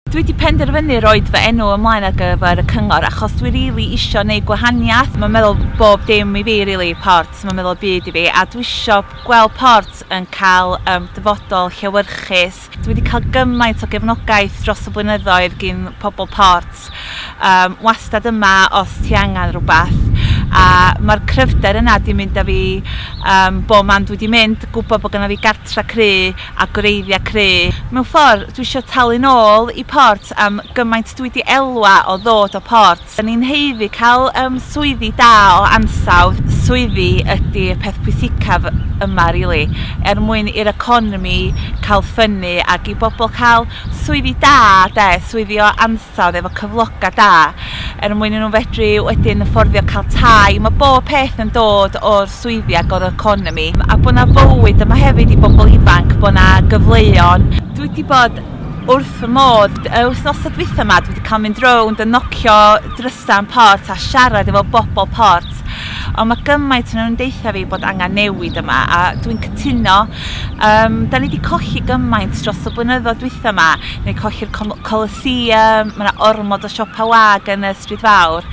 Dwi 'di penderfynu roid fy enw ymlaen ar gyfer y cyngor achos dwi rili isio neud gwahaniaeth, mae'n meddwl bob dim i fi rili, Ports, mae'n meddwl y byd i fi a dwi isio gweld Ports yn cael yym dyfodol llewyrchus. Dwi 'di cael gymaint o gefnogaeth dros y blynyddoedd gin pobl Ports, yym wastad yma os ti angen rhywbeth a mae'r cryfder yna 'di mynd â fi yym bob man dwi 'di mynd, gwybod bod gynna fi gartre cry, a gwreiddia cru. Mewn ffordd, dwi isio talu'n ôl i Port am gymaint dwi 'di elwa o ddod o Port. Da ni'n haeddu cael yym swyddi da o ansawdd, swyddi ydi y peth pwysicaf yma rili, er mwyn i'r economi cael ffynnu ac i bobl cael swyddi da 'de, swyddi o ansawdd. hinsawdd efo cyfloga da er mwyn i nhw fedru wedyn fforddio cael tai. Mae bob peth yn dod o'r swyddi ac o'r economi a bod 'na fywyd yma hefyd i bobl ifanc, bod 'na gyfleon. Dwi wedi bod wrth fy modd. Y wythnosau dwytha 'ma dwi wedi cael mynd rownd a nocio drysa yn Port a siarad efo bobl Port ond mae gymaint o nhw'n deutha fi bod angen newid yma a dwi'n cytuno. Yym, 'da ni 'di colli gymaint dros y blynyddoedd dwytha 'ma. Ni colli'r com- Coliseum, ma' 'na ormod o siopa' wag yn y Stryd Fawr.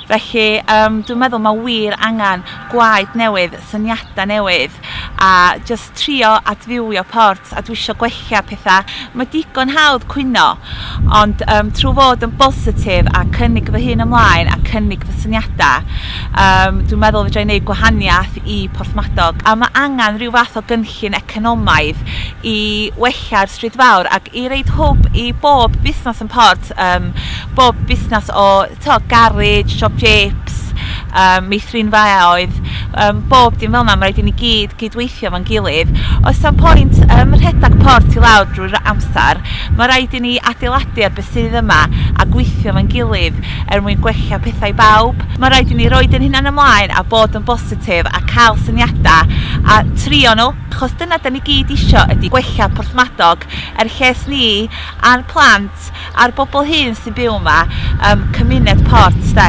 Felly yym dwi'n meddwl ma' wir angan gwaed newydd, syniada' newydd, a jyst trio adfywio Ports a dwi isio gwella petha'. Ma' digon hawdd cwyno. Ond yym trwy fod yn bositif a cynnig fy hun ymlaen a cynnig fy syniadau yym dwi'n meddwl fedra i wneud gwahaniaeth i Porthmadog a mae angen rhyw fath o gynllun economaidd i wella'r Stryd Fawr ac i roid hwb i bob busnes yn Port, yym bob busnes o t'o' garej, siop jeps, yym meithrin faeaoedd, yym bob dim fel 'na, ma' raid i ni gyd gydweithio 'fo'n gilydd. Oes 'na'm pwynt yym rhedag port i lawr drwy'r amser, ma' raid i ni adeiladu ar be' sydd yma a gweithio 'fo'n gilydd er mwyn gwella petha i bawb. Ma' raid i ni roid ein hunain ymlaen a bod yn bositif a ca'l syniada a trio nhw, achos dyna 'dan ni gyd isio ydi gwella Porthmadog er lles ni a'n plant. port a'r bobl hŷn sy'n byw yma yym cymuned port 'de.